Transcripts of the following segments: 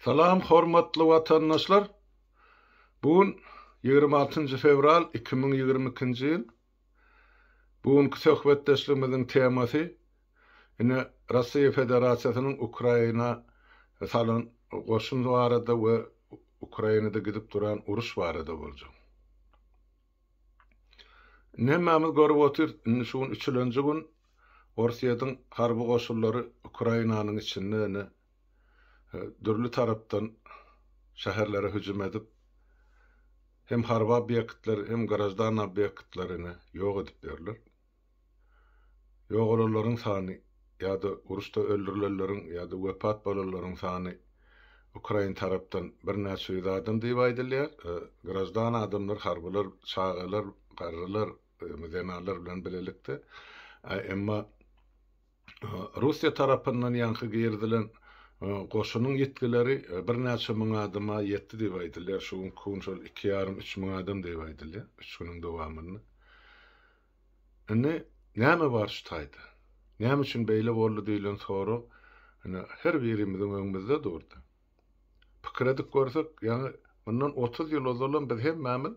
Salam hormatly watandaşlar bu gün ýigrimi altynjy fewral iki müň ýigrimi ikinji ýyl bu günki söhbetdeşligimiziň temasy ine Russiýa Federasiýasynyň Ukraina salan goşun barada we Ukrainada gidip duran uruş barada boljak. Indi hemmämiz görüp otyrys, indi şu gün üçülenji gün Orsýetiň harby goşunlary Ukrainanyň içinde indi dürli tarapdan şäherlere hüjüm edip, hem harby obýektleri, hem graždan obýektleri indi ýok edip ýörler. Ýogalanlaryň sany ýa-da uruşda öldürilenleriň ýa-da wepat bolanlaryň sany ukrain tarapdan birnäçe ýüz adam diýip aýdylýar. Graždan adamlar, harbylar, çagalar, garrylar, zenanlar bilen bilelikde. Emma. Russiýa tarapyndan ýaňky girizilen goşunyň ýitgileri birnäçe müň adama ýetdi diýip aýdylýar. Şu günki gün şol iki ýarym, üç müň adam diýip aýdylýar, üç günüň dowamynda. Indi näme bar şu taýda? Näme üçin beýle boldy diýlen sorag ine her birimiziň öňümizde durdy. Pikir edip görsek, ýaňy mundan otuz ýyl ozalam biz hemmämiz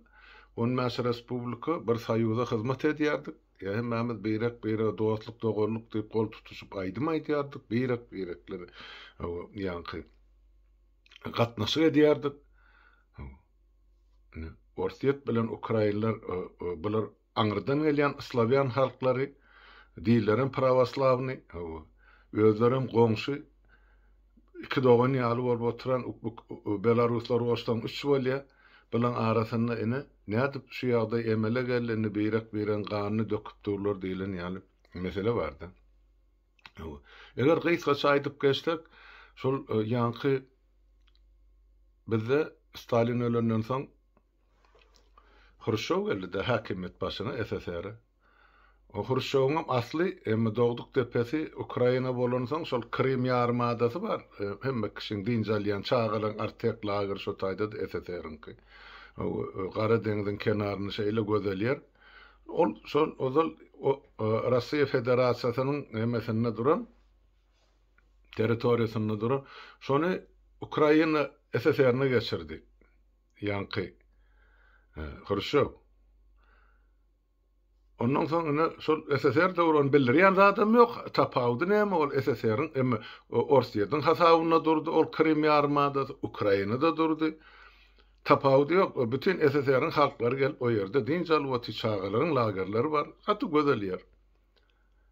on bäş respublika bir soýuza hyzmat edýärdik. Ýa hemmämiz beýrek-beýrege dostluk, doganlyk diýip gol tutuşyp aýdym aýdýardyk, beýrek-beýrekler ýaňky gatnaşyk edýärdik. Orsýet bilen ukrainler bular aňyrdan gelýän slawýan halklary, dillerem prawoslawny, özlerem goňşy Iki dogan ýaly bolup oturan belaruslar goşsaň üç bolýa. Bulaň arasynda ine, nädip şu ýagdaý emele geldi, indi birek-biregiň ganyny döküp durlar diýlen ýaly mesele bar-da. Hawa. Eger gysgaça aýdyp geçsek, şol ýaňky bizde Stalin ölenden soň Hruşşow geldi-de häkimiýet başyna SSR-e. O Hruşşowyňam asly, emma dogduk depesi Ukraina bolansoň şol Krym ýarymadasy bar. Hemme kişiň dynç alýan, çagalaryň Artek lagery şo taýda-da SSR-iňki. Gara deňziň kenaryny şeýle gözel ýer. Ol şol ozal Russiýa Federasiýasynyň nemesinde duran, territoriýasynda duran. Şony Ukraina SSR-ine geçirdi. Ýaňky. Hruşçow. Ondan soň ine şol SSR döwrüni bildirýän zadam ýok. Tapawudy näme ol SSR-iň emma Orsýetiň hasabynda durdy ol Krym ýarymadasy, Ukrainada durdy. Tapawudy ýok. Bütin SSR-iň halklary gelip o ýerde dynç alyp otyr, çagalaryň lagerleri bar. Gaty gözel ýer.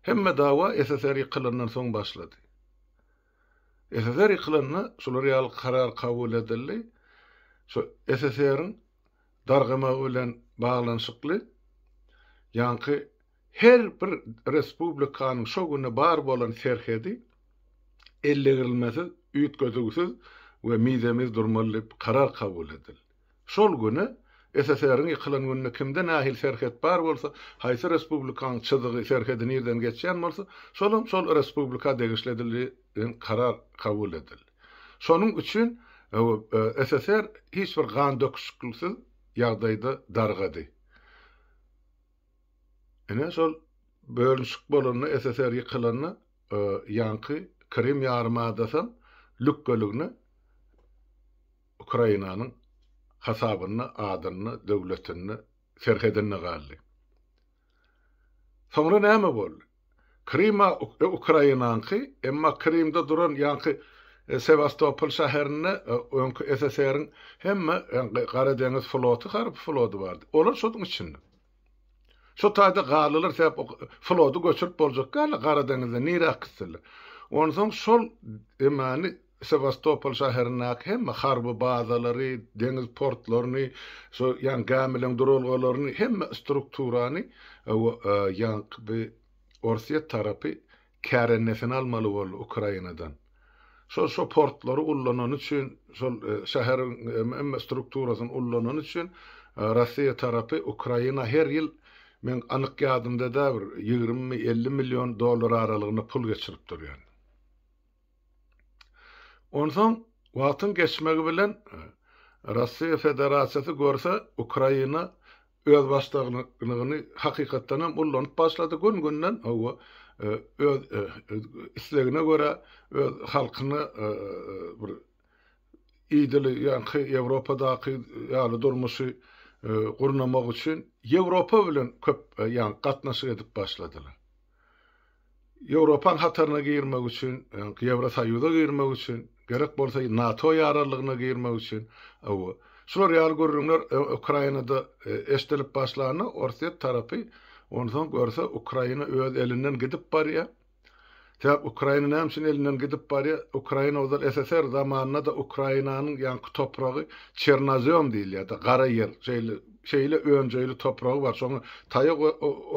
Hemme dawa SSR ýykylandan soň başlady. SSR ýykylanda şular ýaly karar kabul edildi. Şu SSR-iň dargamagy bilen baglanyşykly ýaňky her bir respublikanyň şo güne bar bolan serhedi ellegirilmesiz, üýtgedüwsiz we mize-miz durmaly diýip karar kabul edildi. Şol güni, SSR-iň ýykylan gününi kimde nähili serhet bar bolsa, haýsy respublikanyň çyzygy, serhedi nirden geçýän bolsa, şolam şol respublika degişli edildi diýen karar kabul edildi. Şonuň üçin SSR hiç bir gan döküşikliksiz ýagdaýda dargady. Ine, şol bölünişik bolanda, SSR ýykylanda ýaňky Krym ýarymadasam lükgeligine Ukrainanyň hasabynda adynda, döwletinde, serhedinde galdy. Soňra näme boldy? Kryma Ukrainanyňky, emma Krymda duran ýaňky Sewastopol şäherinde öňki SSR-iň hemme Gara deňiz floty, harby flody bardy. Olar şonuň içinde. Şu taýda galylar sebäp o flody göçürip boljak ýaly Gara deňizden nirä akyp gitseler. Onsoň şol emani Sewastopol şäherindäki hemme harby bazalary, deňiz portlaryny, şu ýan gämileriň duralgalaryny, hemme strukturany o ýanky bi Orsýet tarapy Kärendesin almaly boldy Ukrainadan. Şol şo portlary ullanany üçin, şol şäheriň hemme strukturasyny ullanany üçin Rossiýa tarapy Ukraina her ýyl meň anyk ýadymda däl bir ýigrimi elli million dollar aralygynda pul geçirip durýan. Onsoň wagtyň geçmegi bilen Rossiýa Federasiýasy görse Ukraina özbaşdagnygyny hakykatdan hem ullanyp başlady, gün-günden hawa, öz islegine görä, öz halkyna bir idil ýaňky Ýewropadaky ýaly durmuşy gurnamak üçin Ýewropa bilen köp ýaňky gatnaşyk edip başladylar. Ýewropaň hataryna girmek üçin, Ýewrosoýuza girmek üçin, gerek bolsa NATO ýararlygyna girmek üçin, hawa, şular ýaly gürrüňler Ukrainada eşdilip başlanda, Orsýet tarapy onsoň görse Ukraina öz elinden gidip barýar. Sebäp Ukraina näme üçin elinden gidip barýar? Ukraina ozal SSR zamanynda-da Ukrainanyň ýaňky topragy Çernozem diýilýärdi, gara ýer, şeýle Şeýle önjeýli topragy bar, şoňa taýak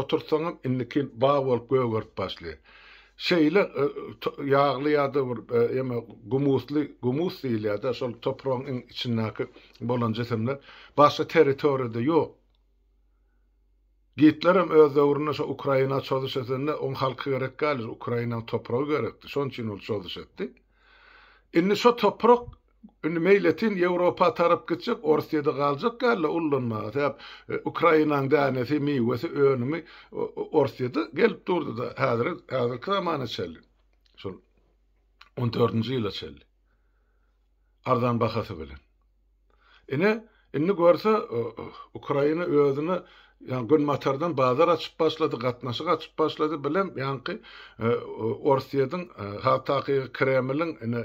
oturtsaňam indikin bag bolup gögerip başlaýar. Şeýle ýagly ýa-da bir ýeme gumusly, gumus diýilýär-de şol topragyň iň içindäki bolan jisimler başga territoriýada ýok. Gitlerem öz döwründe şo Ukraina çozuş edende oň halky gerek däldi, Ukrainaň topragy gerekdi, şonuň üçin ol çozuş etdi. Indi şo toprak Indi meýletin Ýewropa tarap gitjek, Orsyýede galjak ýaly ullanmaga. Sebäp Ukrainaň dänesi, miwesi, önümi Orsyýede gelip durdy-da, häzir, häzirki zamana çenli. Şol on dördünji ýyla çenli. Arzan bahasy bilen. Ine, Indi görse, Ukraina özüne ýa günbatardan bazar açyp başlady, gatnaşyk açyp başlady bilen ýaňky Orsýediň has takygy Kremliň ine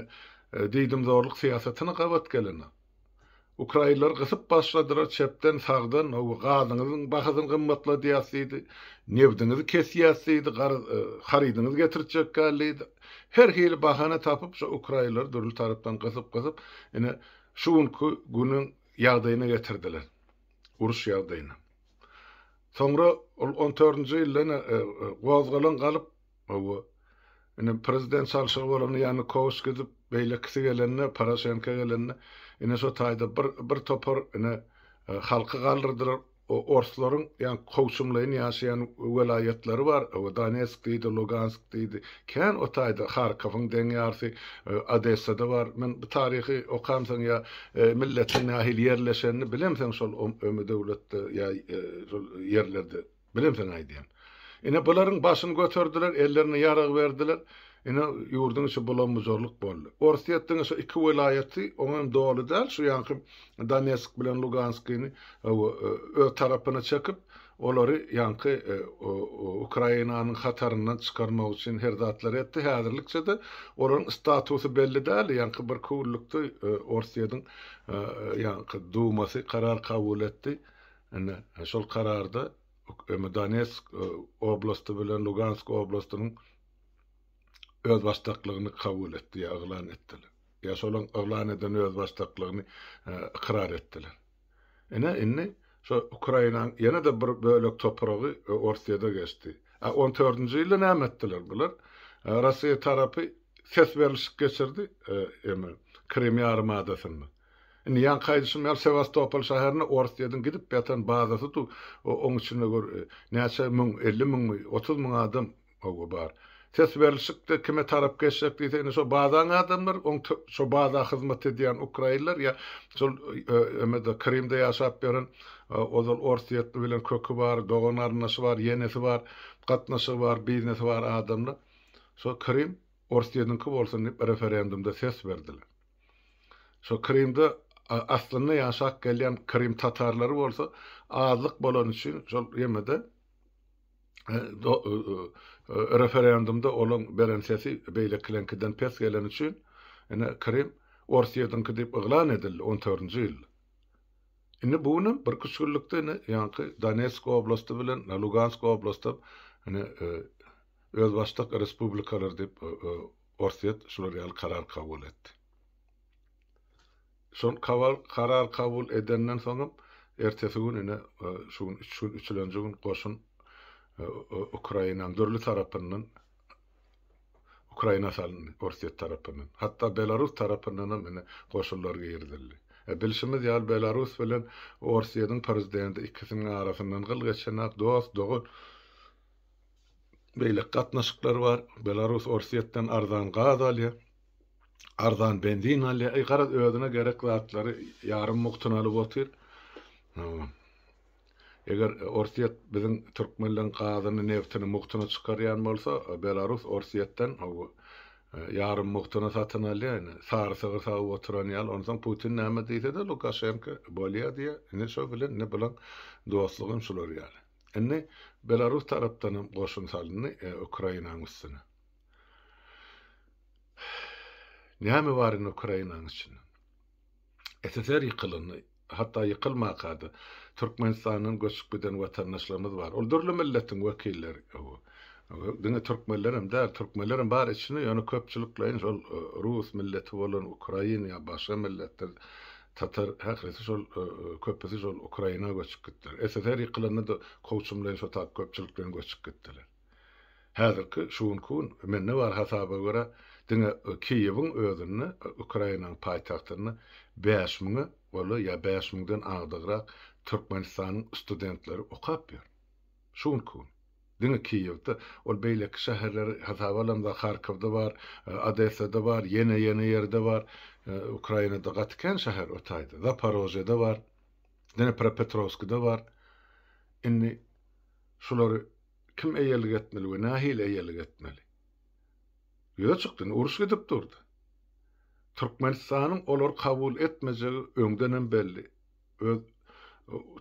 diýdimzorlyk syýasatyna gabat geleni. Ukrainleri gysyp başladylar çepden, sagdan, ow gazyňyzyň bahasyny gymmatladýas diýdi, nebdiňizi kesýäs diýdi, garaz harydyňyzy getirtjek däl diýdi. Her hili bahana tapyp şu Ukrainleri dürli tarapdan gysyp-gysyp ine Şu günki günüň ýagdaýyna getirdiler. Uruş ýagdaýyna. Soňra ol on dördünji ýylda ene gozgalaň galyp, hawa, ene prezident çalşygy bolanda Ýanukowys gidip, beýlekisi gelende, Poroşenko gelende, ene şo taýda bir bir topar ene halky galdyrdylar. O orslaryň ýa kowçumlaýyn ýaşaýan welaýatlary bar, o Donetsk diýdi, Lugansk diýdi. Kän o taýda Harkowyň deň ýarsy, Odessada bar. Men bu taryhy okamsoň ýa milletiň nähili ýerleşenini bilemsoň şol ömedöwletde ýa şol ýerlerde bilemsoň aýdýan. Ine, bularyň başyny göterdiler, ellerine ýarag berdiler. Ine, ýurduň içi bulam-bujarlyk boldy. Orsýetdigi şu iki welaýaty, oňa hem doly däl, şu ýanky Donetsk bilen Luganskini öz tarapyna çekip, olary ýanky Ukrainanyň hataryndan çykarmak üçin her zatlary etdi. Häzirlikçe-de olaryň statusy belli däl, ýanky bir küwrlükde Orsýetiň ýanky Dumasy karar kabul etdi. Ine, şol kararda. Emma Donetsk oblasty bilen Lugansk oblastynyň özbaşdaklygyny kabul etdi, ýa yglan etdiler. Ýa şolaryň yglan eden özbaşdaklygyny e, ykrar etdiler. Ine indi şu Ukrainanyň ýene-de bir bölek topragy e, Orsiýada geçdi. A 14-nji ýylda näme etdiler bular? E, Russiýa tarapy ses berlişik geçirdi, e, eme Krym ýarymadasynda. Indi ýaňky aýdyşym ýaly Sewastopol şäherine Orsýetiň gidip ýatan bazasy dur, oň içinde gör näçe müň, elli müňmi, otuz müň adam hawa bar. Ses berlişikde kime tarap geçjek diýse indi şo bazaň adamlary, oň şo baza hyzmat edýän ukrainler ýa şol emede Krymda ýaşap ýören ozal orsýetli bilen köki bar, dogan garyndaşy bar, ýenesi bar, gatnaşygy bar, biznesi bar adamlar şo Krym Orsýetiňki bolsun diýip referendumda ses berdiler. Şo Krymda aslynda ýaşap gelýän Krym tatarlary bolsa azlyk bolany üçin şol ýemede referendumda olaň beren sesi beýlekileňkiden pes geleni üçin ine Krym Orsyýadyňky diýip yglan edildi 14-nji ýylda. Indi bu gün bir üç günlükde ine ýaňky Donetsk oblasty bilen Lugansk oblast hem ine özbaşdak respublikalar diýip Orsýet şular ýaly karar kabul etdi. Şol karar kabul edenden soňam ertesi gün ine şu gün üç gün üçülenji gün goşun Ukrainanyň dürli tarapyndan Ukraina salyndy Orsýet tarapyndan. Hatda Belarus tarapyndan hem ine goşunlar girizildi. E, bilşimiz ýaly Belarus bilen Orsýetiň prezidenti ikisiniň arasyndan gyl geçenok, dost, dogan. beýleki gatnaşyklar bar. Belarus Orsýetden arzan gaz alýar, arzan benzin alýar. Eý, garaz, özüne gerek zatlary ýarym mugtuna alyp otyr. Eger Orsýet biziň türkmenleriň gazyny, neftini mugtuna çykarýan bolsa, Belarus Orsýetden ýarym mugtuna satyn alýar. Indi sary sygyr sagyp oturan ýaly. Onsoň Putin näme diýse-de, Lukaşenko bolýar diýýär. Indi şo bilen indi bilen dostlugym şular ýaly. Indi Belarus tarapdan hem goşun salyndy Ukrainanyň üstüne. Näme bar indi Ukrainanyň içinde? SSR ýykylyndy. Hatda ýykylmaka-da, Türkmenistandan göçüp giden watandaşlarymyz bar. Ol dürli milletiň wekilleri. Diňe türkmenler hem däl, türkmenler hem bar içinde, ýöne köpçülikleýin şol rus milleti bolan, ukrain ýa başga milletler Tatar ählisi şol köpüsi şol Ukraina göçüp gitdiler. SSR ýykylanda-da kowçum bilen şo tap köpçülik bilen göçüp gitdiler. Häzirki şu günki gün mende bar hasaba görä diňe Kiýewiň özünde Ukrainanyň paýtagtynda bäş müňe goly ýa bäş müňden agdygrak Türkmenistanyň studentleri okap ýör. Şu günki gün. Diňe Kiýewde, ol beýleki şäherleri hasaba alamda Harkowda bar, Odessada bar, ýene ýene ýerde bar. Ukrainada gaty kän şäher o taýda. Zaparožýede bar. Dnepropetrowskide bar. Indi şulary kim eýelik etmeli we nähili eýelik etmeli? Ýüze çykdy, indi uruş gidip durdy. Türkmenistanyň olary kabul etmejegi öňdenem belli. Öz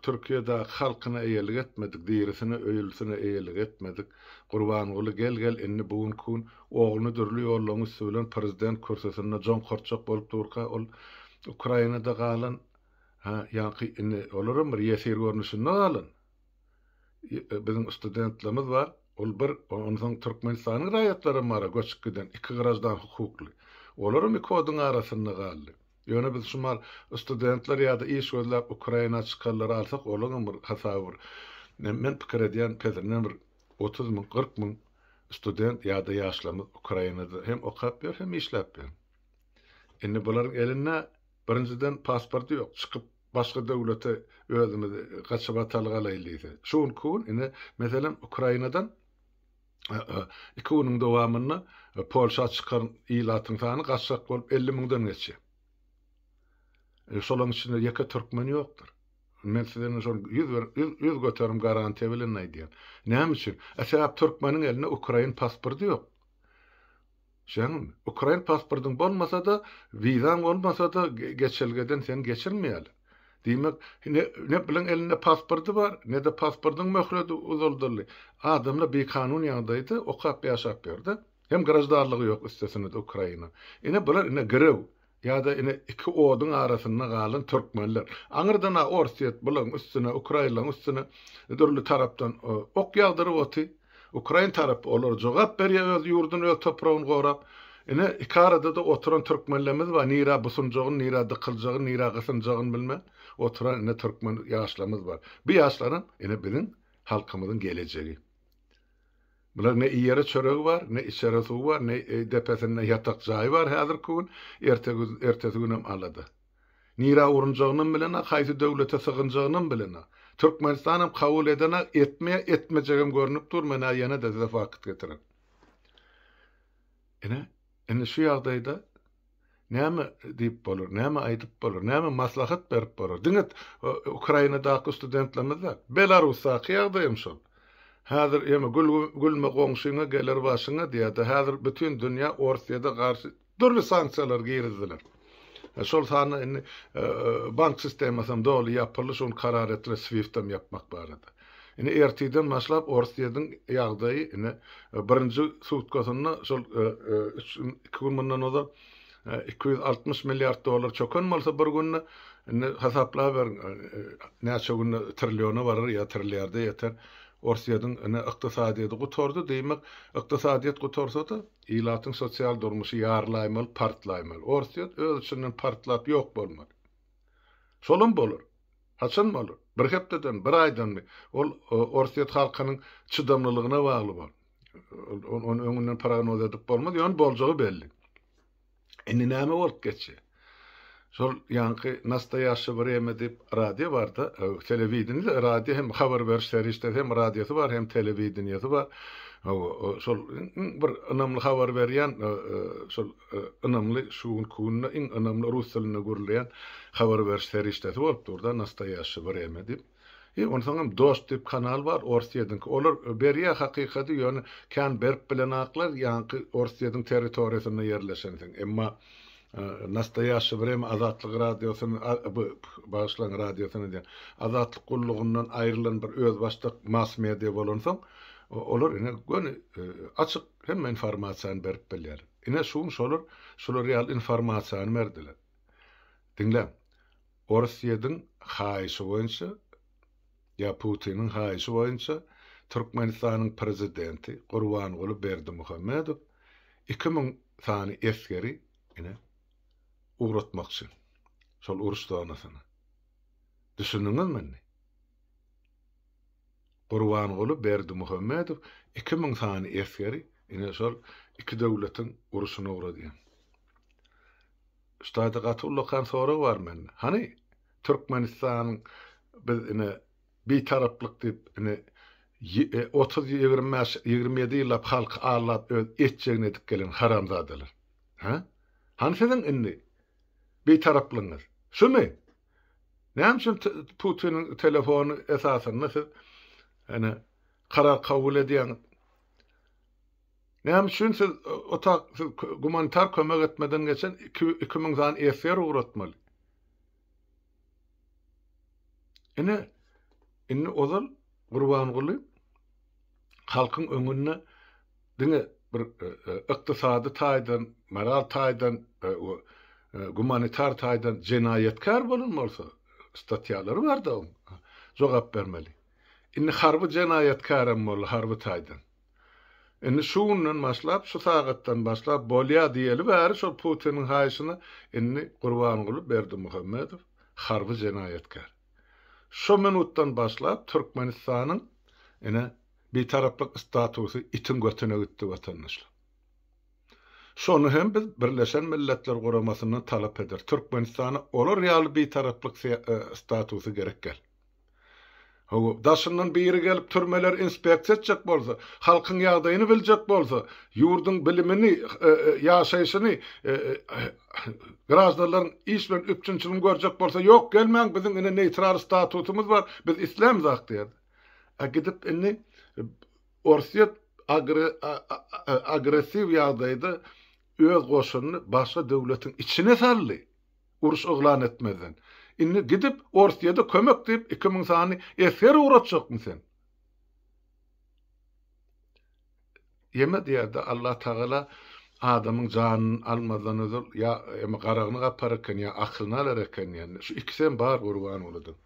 Türkiýedäki halkyna eýelik etmedik, dirisine, öýlüsine eýelik etmedik. Gurbanguly gel-gel indi bu gün kun ogluny dürli ýollaryň üsti bilen prezident kürsüsinde joňkartjak bolup durka ol Ukrainada galan ha ýaňky indi olaram bir ýesir görnüşinde galan biziň studentlerimiz bar ol bir onsoň Türkmenistanyň raýatlaram bara göçüp giden iki graždan hukukly olaram iki oduň arasynda galdy. Ýöne biz şumal studentler ýada iş gözläp Ukraina çykarlary alsak olaňam bir hasaby bir men pikir edýän pezirinden bir otuz müň kyrk müň student ýada ýaşlarymyz Ukrainada hem okap ýör hem işläp ýör. Indi bularyň elinde birinjiden pasporty ýok çykyp başga döwlete özümizi gaçyp atalyk alaýyl diýse şu günki gün indi meselem Ukrainadan Iki günüň dowamynda Polşa çykan ilatyň sany gaçgak bolup elli müňden geçýär. E, şolaryň içinde ýeke türkmen ýokdur. Men size indi şol ýüz bir ýüz göterim garantiýa bilen aýdýan. Näme üçin? E sebäp türkmeniň elinde ukrain pasporty ýok. Sen ukrain pasportyň bolmasa-da, wizaň bolmasa-da geçelgeden seni geçirmeýärler. Diýmek, ne ne bileň elinde pasporty bar, ne-de pasportyň möhleti uzaldyldy. Adamlar bikanun ýagdaýda okap ýaşap ýörde. Hem graždarlygy ýok üstesine-de ukraina. Ine bular ine girew. Ýa-da ine iki oduň arasynda galan türkmenler. Aňyrdan-a Orsýet bularyň üstüne, ukrainlaryň üstüne dürli tarapdan ok ýagdyryp oty. Ukrain tarapy olara jogap berýä, öz ýurduny, öz topragyny gorap. Ine, iki arada-da oturan türkmenlerimiz bar. Nirä busunjagyny, nirä dykyljagyny, nirä gysynjagyny bilmän oturan ine türkmen ýaşlarymyz bar. Bu ýaşlaram ine biziň halkymyzyň gelejegi. Bular ne iýere çöregi bar, ne içere suwy bar, ne depesinde ýatak jaýy bar häzirki gün, ertegüz, ertesi günem alada. Nirä urunjagynam bilenok, haýsy döwlete sygynjagynam bilenok. Türkmenistanam kabul edenak, etmeýär, etmejegem görnüp dur, men-ä ýene-de size fakt getiren. Ine, indi şu ýagdaýda näme diýip bolar, näme aýdyp bolar, näme maslahat berip bolar? Diňe Ukrainadaky studentlerimiz däl, Belarusdaky ýagdaý hem şol. Häzir ýeme gülme goňşyňa geler başyňa diýýärdi. Häzir bütin dünýä Orsýede garşy dürli sanksiýalary girizdiler. Şol sanda indi bank sistemasy hem doly ýapyldy, şu gün karar etdiler swift hem ýapmak barada. Indi ertirden başlap Orsýediň ýagdaýy indi birinji sutkasynda şol üç gün, iki gün mundan ozal iki ýüz altmyş milliard dollar çöken bolsa bir günde indi hasaplayberin näçe günde trilliona barar ýa trilliarda ýeter. Orsýediň indi ykdysadyýeti gutardy, diýmek ykdysadyýet gutarsada Ilatyň sosial durmuşy ýarylaýmaly, partlaýmaly. Orsýet öz içinden partlap ýok bolmaly. Şolam bolar. Haçan bolar? Bir hepdeden, bir aýdanmy? Ol orsýet halkynyň çydamlylygyna bagly bol. Ony öňünden prognoz edip bolmaz, ýöne boljagy belli. Indi näme bolup geçýär? Şol ýaňky Nastoýaşşy Wremýa diýip radio bar-da, telewideniýede radio hem habar beriş serişdesi hem radiosy bar, hem telewideniýesi bar. Hawa, şol iň bir ynamly habar berýän şol ynamly şu günki günde iň ynamly rus dilinde gürleýän habar beriş serişdesi bolup dur-da Nastoýaşşy Wremýa diýip. He onsaňam dost diýip kanal bar orsyýediňki olar berýä hakykady ýöne kän berip bilen aklar ýaňky orsyýediň territoriýasynda ýerleşensiň emma nastoýaşşy wremýa azatlyk radiosyn bu bagyşlaň radiosyn edýän azatlyk gullugyndan aýrylan bir özbaşdak mass media bolansoň olar ine göni açyk hemme informasiýany berip bilýär ine şuň şolar şular ýaly informasiýany berdiler diňläň Orsýediň haýyşy boýunça, ýa Putiniň haýyşy boýunça Türkmenistanyň Prezidenti Gurbanguly Berdimuhamedow iki müň sany esgeri ine, ugratmakçy şol uruş zonasyna. Düşündiňizmi indi? Gurbanguly Berdimuhamedow iki müň sany esgeri ine, şol iki döwletiň uruşuna ugradýar. Ustad gaty ullakan sorag bar mende. Hany Türkmenistan biz ine bitaraplyk diyip ine otuz ýigrimi bäş ýigrimi ýedi ýyllap halky aldap öz etjegini edip gelen haramzadalar. Hä? Hany siziň indi bitaraplygyňyz? Şumy? Näme üçin Putiniň telefony esasynda siz ine karar kabul edýäňiz? Näme üçin siz otag siz gumanitar kömek etmeden geçen iki iki müň sany esger ugratmaly? Ine, indi ozal Gurbanguly halkyň öňünde diňe bir e, e, ykdysady taýdan, moral taýdan, e, gumanitar taýdan jenaýatkär bolan bolsa, statýalary bar-da oň, jogap bermeli. Indi harby jenaýatkär hem boldy, harby taýdan. Indi şu günden başlap, şu sagatdan başlap bolýar diýeli bäri şol Putiniň haýyşyna indi Gurbanguly Berdimuhamedow harby jenaýatkär. Şu minutdan başlap Türkmenistanyň ine Bitaraplyk statusy itiň götüne gitdi watandaşlar. Şony hem biz Birleşen Milletler Guramasyndan talap eder. Türkmenistana olar ýaly Bitaraplyk statusy gerek däl. Hawa, daşyndan biri gelip türmeleri inspeksiýa etjek bolsa, halkyň ýagdaýyny biljek bolsa, ýurduň bilimini, ýaşaýşyny, graždanlaryň iş bilen üpjünçiligini görjek bolsa, ýok, gelmäň, biziň ine neýtral statusymyz bar, biz islämzak diýerdi. A gidip indi Orsýet agressiw ýagdaýda öz goşunyny başga döwletiň içine saldy. Uruş yglan etmezden. Indi gidip orsyýada kömek diýip iki müň sany esger ugratjakmy sen? Ýeme diýerde Allah tagala adamyň janyny almazdan ozal ýa eme garagyny gapar eken ýa akylyny alar eken diýende şu ikisem bar gurban oladym.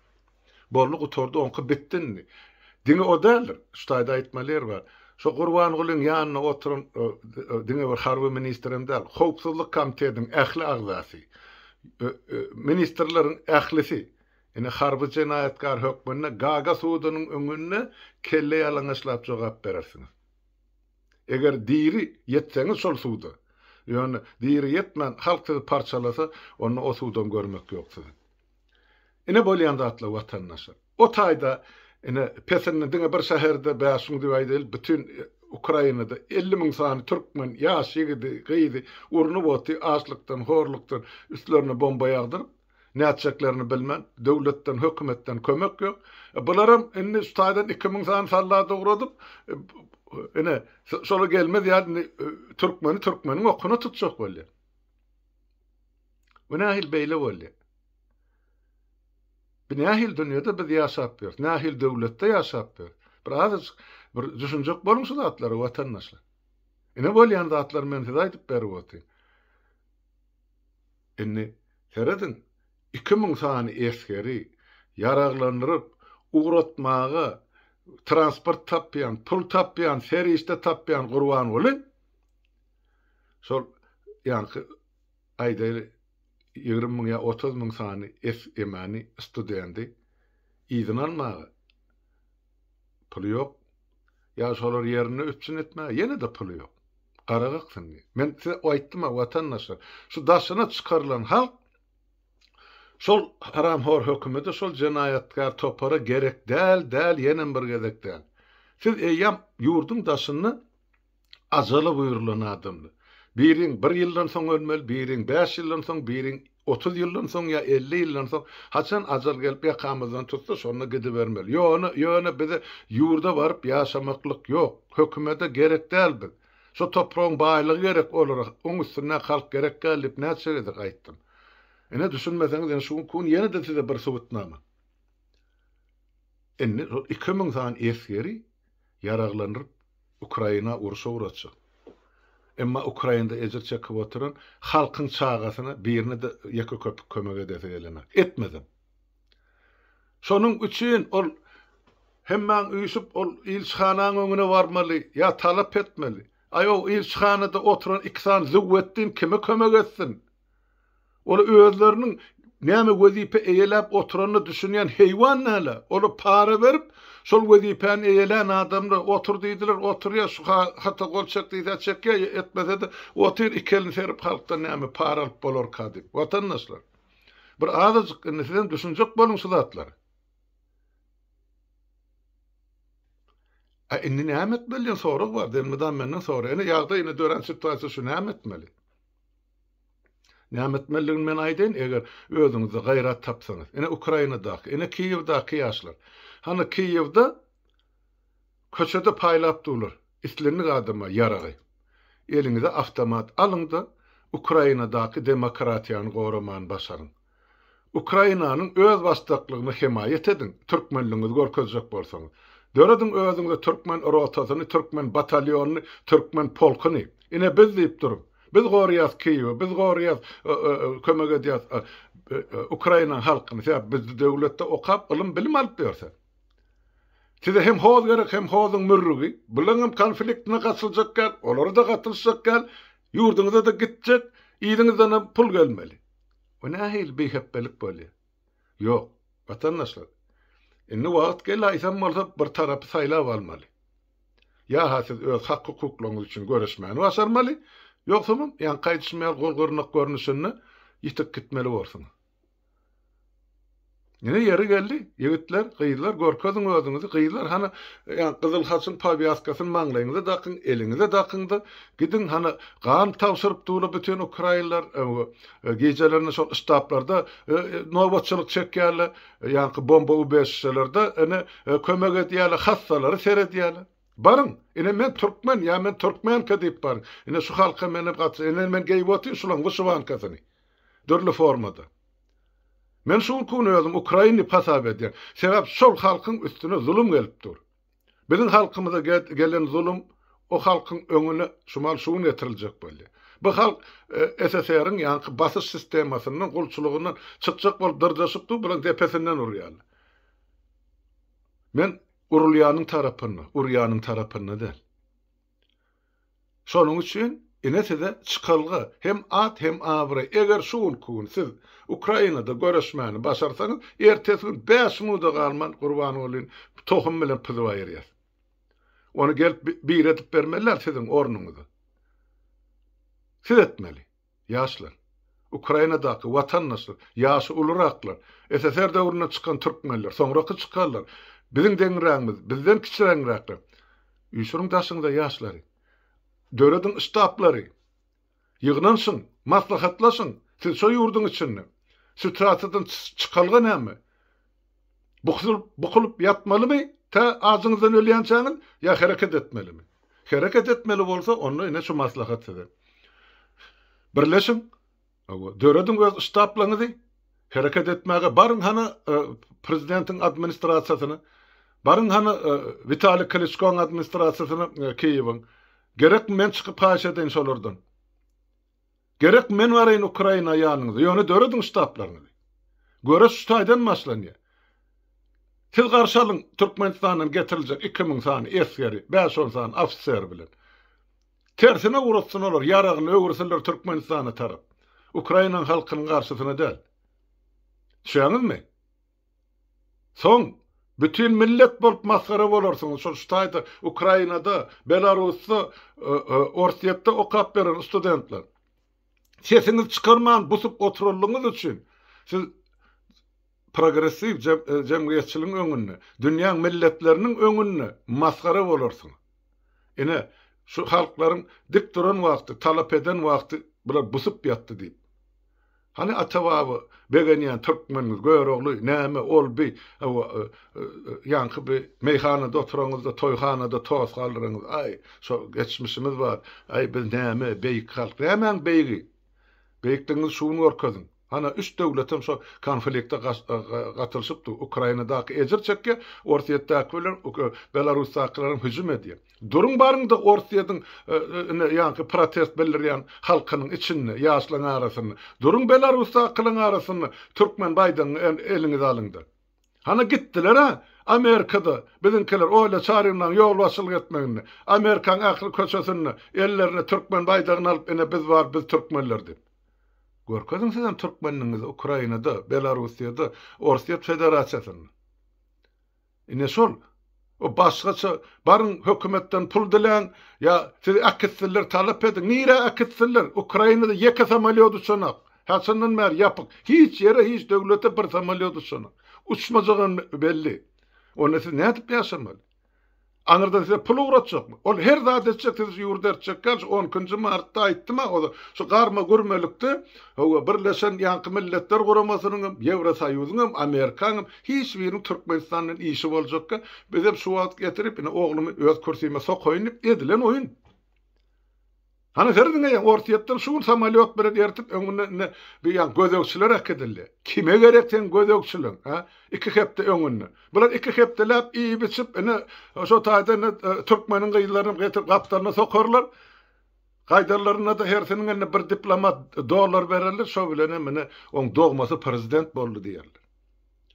Boldy gutardy oňky bitdi indi. Diňe o däldir. Şu taýda aýtmaly ýer bar. Şo Gurbangulyň ýanynda oturan diňe bir harby ministr hem däl. Howpsuzlyk komitetiň ähli agzasy. Ministrleriň ählisi ine harby jenaýatkar hökmünde Gaga sudunyň öňünde kelle ýalaňaçlap jogap berersiňiz. Eger diri ýetseňiz şol suda. Ýöne diri ýetmän halk sizi parçalasa onda o sudam görmek ýok siziň. Ine bolýan zatlar watandaşlar. O taýda ine petirni diňe bir şäherde bä şuň diýäý däl bütin Ukrainada 50 müň sany türkmen ýaş ýigidi, gyzy urnup oty açlykdan, horlukdan üstlerine bomba ýagdyryp nätjeklerini bilmän döwletden, hökümetden kömek ýok. E, bularam indi şu taýdan 2 müň sany sallada ugradyp e, ine şola gelmez ýaly e, türkmeni türkmeniň okuna tutjak bolýar. Bu nähili beýle boldy? Bu nähili dünýäde biz ýaşap ýörüs? Nähili döwletde ýaşap ýörüs? Bir azajyk bir düşünjek boluň şu zatlara watandaşlar. Ine bolýan zatlary men size aýdyp berip otyryn. Indi serediň, 2000 sany esgeri ýaraglandyryp, ugratmaga transport tapýan, pul tapýan, serişde tapýan Gurbanguly şol ýaňky aýdaýly, ýigrimi müň ýa otuz müň sany SMI-ni, studendi, yzyna almaga puly ýok, ýa şolary ýerinde üpjün etmäge ýene-de puly ýok. Gara gyksyndy. Men size aýtdym-a, watandaşlar, şu daşyna çykarylan halk şol haramhor hökümete, şol jenaýatkär topara gerek däl, däl, ýenem bir gezek däl. Siz eýýäm ýurduň daşynda Ajala buýrulan adamdy. Biriň bir ýyldan soň ölmeli, biriň bäş ýyldan soň, biriň otuz ýyldan soň ýa elli ýyldan soň, haçan ajal gelip ýakamyzdan tutsa, şonda gidibermeli. Ýöne, ýöne bize ýurda baryp ýaşamaklyk ýok. Hökümede gerek däl biz. Şu topragyň baýlygy gerek olara, oň üstündäki halk gerek däl diýip näçe gezek aýtdym. Ine, düşünmeseňiz, ine, şu gün ýene-de size bir subutnama. Indi şol iki müň sany esgeri ýaraglandyryp, Ukraina urşa uratjak. Emma Ukrainada ejir çekip oturan halkyň çagasyna birine-de ýeke köpük kömek edesi gelenok. Etmezem. Şonuň üçin ol hemmäň üýşüp, ol ilçihananyň öňüne barmaly, ýa talap etmeli. Aý, o ilçihanada oturan iki sany Züwwetdin kime kömek etsin? Ola özleriniň näme wezipe eýeläp oturanyna düşünýän heýwan näle? Ola para berip, şol wezipäni eýelän adamlar, otur diýdiler, oturýar, şu hata gol çek diýse çekýär, etmese-de otyr, iki elini serip halkdan näme para alyp bolarka diýip. Watandaşlar, bir azajyk indi sizem düşünjek boluň şu zatlara. A indi näme etmeli diýen sorag bar, elmydam menden soraýar. Ine ýagdaý ine dörän situasiýa şu näme etmeli? Näme etmelidigini men aýdaýyn, eger özüňizde gaýrat tapsaňyz. Ine Ukrainadaky, ine Kiýewdaky ýaşlar. Hany Kiýewde köçede paýlap durlar islendik adama ýaragy. Eliňize awtomat alyň-da, Ukrainadaky demokratiýany goraman başaryň. Ukrainanyň öz basdaklygyny hemaýat ediň, türkmenligiňizi görkezjek bolsaňyz. Dörediň özüňize türkmen rotasyny, türkmen batalionyny, türkmen polkuny. Ine biz diýip duruň. Biz gorýas Kiýewi, biz gorýas, kömek edýäs Ukrainaň halkyny. Sebäbi biz döwletde okap, ylym, bilim alyp ýörse. Size hem hoz gerek, hem hozuň mürrügi. Bulaňam konfliktine gatyljak däl, olary-da gatylyşjak däl, ýurduňyza-da gitjek, yzyňyzdanam pul gelmeli. Bu nähili biheqdelik bolýar? Ýok, watandaşlar, indi wagt geldi aýtsam bolsa bir tarapy saýlap almaly. Ýa-ha siz öz hak-hukuklaryňyz üçin göreşmäni başarmaly, ýogsamam ýaňky aýdyşym ýaly gol gyrnak görnüşinde ýitip gitmeli borsuňyz. Ine ýeri geldi, ýigitler, gyzlar, görkeziň özüňizi, gyzlar, hany, ýa, gyzyl haçyň powýaskasyny maňlaýyňyza dakyň, eliňize dakyň-da, gidiň, hany, gan tabşyryp dur-la bütin ukrainler, gijelerine şol ştablarda nobatçylyk çekýärler, ýaňky bomba ubežişelerde, ine, kömek edýärler, hassalary seredýärler. Baryň, ine, men türkmen, ýa men türkmenka diýip baryň. Ine, şu halka men hem gatnaşýan, ine, men geýip otyryn şulaň wyşywankasyny. Dürli formada. Men şul kun özüm ukrainlip hasap edýän. Sebäp şol halkyň üstüne zulum gelip dur. Biziň halkymyza gelen zulum o halkyň öňüne şumal şu gün getiriljek bolýar. Bu halk SSR-iň ýanky basyş sistemasyndan, gulçulygyndan çykjak bolup dyrjaşyp dur, bular depesinden urýarlar. Men urulýanyň tarapynda, urýanyň tarapynda däl. Şonuň üçin ine size çykalga, hem at hem abraý, eger şu günki gün siz Ukrainada göreşmäni başarsaňyz, ertesi gün bäş minuda galman Gurbangulyny tohum bilen pyzyp aýyrýas. Ony gelip biri edip bermeliler siziň ornuňyza. Siz etmeli. Ýaşlar. Ukrainadaky watandaşlar, ýaşy uluraklar, SSR döwründen çykan türkmenler, soňraky çykanlar, biziň deňrägimiz, bizden kiçiräňräkler. Üýşüriň daşyňyza ýaşlary. Dörediň ştaplary. Ýygnanşyň, maslahatlaşyň. Siz şo ýurduň içinde. Sütasiýadan çykalga näme? Bukulyp, bukulyp ýatmalymy, tä ajyňyzdan ölýänçäňiz, ýa hereket etmelimi? Hereket etmeli bolsa, onda ine şu maslahat size. Birleşiň, hawa, dörediň öz ştaplaňyzy, hereket etmäge baryň hany prezidentiň administrasiýasyna, baryň hany Witaliý Kliçkoň administrasiýasyna Kiýewiň. Gerekmi, men çykyp haýyş edeýin şolardan? Gerek men baraýyn Ukraina ýanyňyza, ýöne dörediň ştablaryňyzy. Göreş şu taýdan başlanýar. Siz garşy alyň Türkmenistandan getiriljek iki müň sany esgeri, bäş-on sany ofiseri bilen. Tersine ugratsin olar, ýaragyny öwürsinler Türkmenistana tarap. Ukraina halkynyň garşysyna däl. Düşýäňizmi? Soň bütin millet bolup masgara bolarsyňyz şol şu taýda Ukrainada, Belarusda, Orsýetde okap beren studentler. Sesiňizi çykarman busup oturanlygyňyz üçin siz progressiw jemgyýetçiligiň öňünde, dünýäň milletleriniň öňünde masgara bolarsyňyz. Ine, şu halklaryň dik duran wagty, talap eden wagty bular busup ýatdy diýip. Hany Atababa begenýän türkmenimiz Görogly näme ol bi ýaňky bi meýhanada oturanňyzda toýhanada tos galdyranňyz aý şo geçmişimiz bar aý biz näme beýik halk nämäň beýigi beýikligiňizi şu gün görkeziň hana üç döwletem şo konflikte gatylyşypdy ukrainadaky ejir çekýä orsyýetdäki bilen belarusdakylaram hüjüm edýä Duruň baryňda Orsýetiň ine ýaňky protest bildirýän halkynyň içinde, ýaşlaň arasynda. Duruň Belarusdakylaň arasynda türkmen baýdagyňy eliňize alyňda. Hana gitdiler-ä Amerikada biziňkiler Olýa Çaryňlaň ýolbaşçylyk etmeginde. Amerikaň ähli köçesinde ellerine türkmen baýdagyny alyp ine biz bar biz türkmenler diýip. Görkeziň sizem türkmenligiňizi Ukrainada, Belarusýada, Orsýet Federasiýasynda. Ine şol. O başgaça baryň hökümetden pul diläň ýa sizi äkitsinler talap ediň. Nirä äkitsinler? Ukrainada ýeke samolýot uçanak. Haçandan bäri ýapyk. Hiç ýere hiç döwlete bir samolýot uçanak. Uçmajagam belli. Onda siz nädip ýaşamaly? Aňyrdan size pul ugratjakmy? Ol her zat etjek sizi şu ýurda eltjek ýaly şu on nji martda aýtdym-a oza şu garma gürmelikde Hawa birleşen ýaňky milletler guramasynyňam Ýewrosoýuzyňam Amerikaňam Hiç biriniň Türkmenistan bilen işi boljakka, biz hem şu wagt getirip, ine, oglumy öz kürsime sokaýyn diýip edilen oýun. Hany her diňeýäň, Orsýetden şu gün samolýot bilen ertip, öňünden indi bu ýan gözegçiler äkidildi. Kime gerek seň gözegçiligiň, hä? Iki hepde öňünden. Bular iki hepdeläp iýip-içip, ine, şo taýda indi türkmeniň gyzlaryny getirip gapdalyna sokarlar. Gaýdanlarynda-da hersiniň eline bir diplomat dollar bererler, şo bilenem indi oň dogmasy prezident boldy diýerler.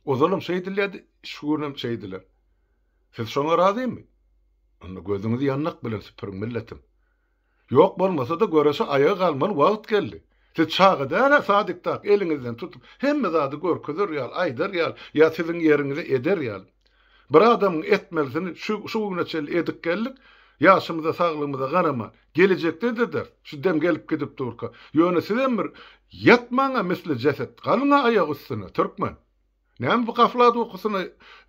Ozalam şeýdilýärdi, şu günem şeýdiler. Siz şoňa razymy? Onda gözüňizi ýandak bilen süpüriň, milletim. Ýok bolmasa-da göreşe aýaga galmaly wagt geldi. Siz çaga däl-ä sadiktak eliňizden tutup, hemme zady görkezer ýaly, aýdar ýaly ýa siziň ýeriňize eder ýaly. Bir adamyň etmelisini şu güne çenli edip geldik, ýaşymyza, saglygymyza garaman, Gelejekde-de-der, şu dem gelip gidip durka. Ýöne sizem bir ýatmaň-a misli jeset, galyň-a aýak üstüne, türkmen! Näme bu gaflat ukusyna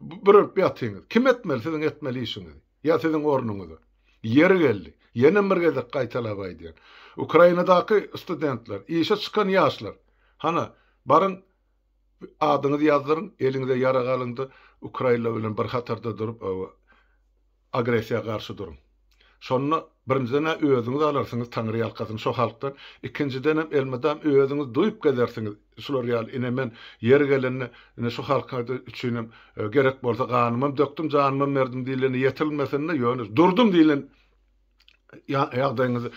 bürünip ýatyňyz? Kim etmeli siziň etmeli işiňizi? Ýa siziň ornuňyza? Ýeri geldi, ýenem bir gezek gaýtalap aýdýan. Ukrainadaky studentler, işe çykan ýaşlar, hana, baryň, adyňyzy ýazdyryň, eliňize ýarag alyň-da, ukrainler bilen bir hatarda durup, öe, agressiýa garşy duruň. Şonda birinjiden-ä özüňiz alarsyňyz taňryýalkasyn şo halkdan, ikinjidenem elmydam özüňiz duýup gezersiňiz, şular ýaly ine men ýeri gelende ine şu halkyň üçinem gerek bolsa ganymam dökdüm janymam berdim diýleni ýetirilmesinde ýöne durdum diýlen ýagdaýyňyzy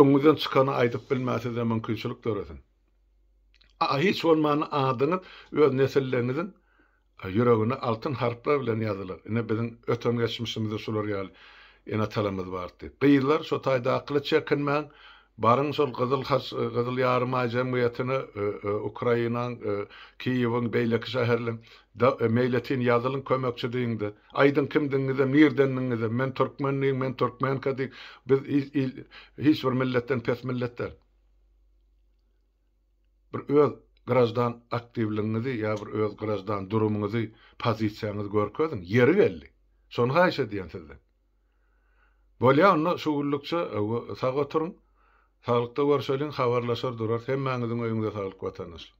öňüňizden çykany aýdyp bilmän size mümkinçilik döresin. Hiç bolmanda adyňyz öz nesilleriňiziň Ýüregine altyn harplar bilen ýazylar. Ine biziň öten geçmişimizde şular ýaly ene-atalarymyz bardy. Gyzlar şo taýdakyly çekinmäň, baryň şol Gyzyl Haç, Gyzyl Ýarymaý jemgyýetine, Ukrainaň, Kiýewiň, beýleki şäherleriň, da meýletin ýazylyň kömekçi diýiň-de, aýdyň kimdigiňizem, nirdendigiňizem, men türkmen diýiň, men türkmenka diýiň, biz il, hiç bir milletden pes millet däl. bir öz graždan aktiwligiňizi ýa bir öz graždan durumyňyzy, pozisiýaňyzy görkeziň. Ýeri geldi. Şony haýyş edýän sizden. Bolýa onda şu günlükçe sag oturyň. Saglykda görşeliň, habarlaşar durarys. Hemmäňiziň öýüňize saglyk watandaşlar.